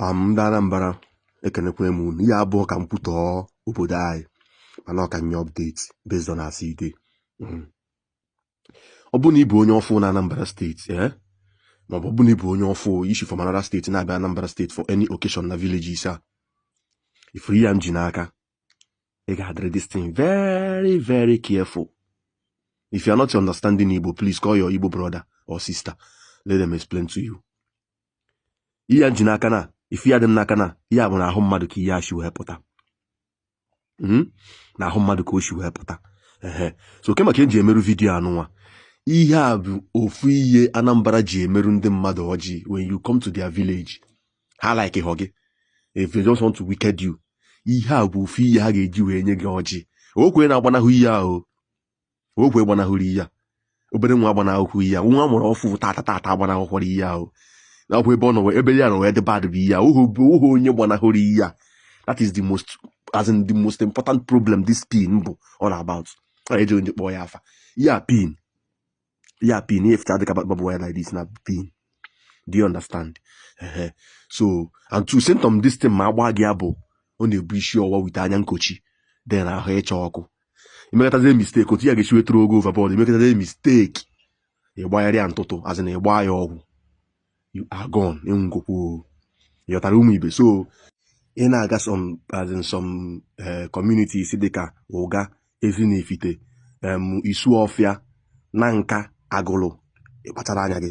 um, ndị Anambra ekenekwa m unu ihe a abụrọ ka m kwutọọ obodo anyị mana ọ ka m nye update based on as e dey hmm. ọ bụ na ị bụ onye ọfụ na Anambra steeti ee eh? maọbụ ọ bụ na ị bụ onye ọfụ i si from another state na-abịa Anambra steeti for any occasion na villages a ị fụrụ ihe a m ji n'aka ị ga-adịrị this thing very very careful if you are not understanding Igbo please call your Igbo brother or sister let them explain to you ihe a m ji n'aka na ife ya dị m n'aka na ya bụ na ahụ mmadụ ka ihe a shi wee pụta hmm? na ahụ mmadụ ka o si wee pụta ehe so ke maka eji emerụ vidiyo a nụnwa ihe a bụ ofu ihe Anambra ji emerụ ndị mmadụ ọjị when you come to their village ha like hụ gị if they just want to wicked you ihe a bụ ofu ihe ha ga-eji wee nye gị ọjị okwe na-agbanahụ ihe ahụ okenye gbanahụrụ ihe a obere nwa agbanahụhụ ihe a nwa a mụrụ ọfụ tata tata agbanahụkwara ihe ahụ na ọ bụ ebe ọ nọ ebe ihe a nọ wee dị bad bụ ihe ahụ ohu onye gbanahụrụ ihe a that is the most as in the most important problem this pin bụ all about ọ na-eji onye kpọọ ya afa ya pin ya pin ya efeta dịka barbed wire like this na pin do you understand ehe so and otu symptom this thing ma a gbaa gị ya bụ ọ na-ebu isi ọwa with anya nkochi then ahụ ịcha ọkụ i mekatazie mistake otu ya ga-esi wetara o go overboard i mekatazie mistake ịgbagharịa ntụtụ as in ịgba ya ọgwụ you are gone ị nwụgokwu ị ghọtara ụmụ ibe so ị na-aga some as in some eh, communities dịka Ụga Ezinifite em, Isuọfịa Nanka Agụlụ ị kpachara anya gị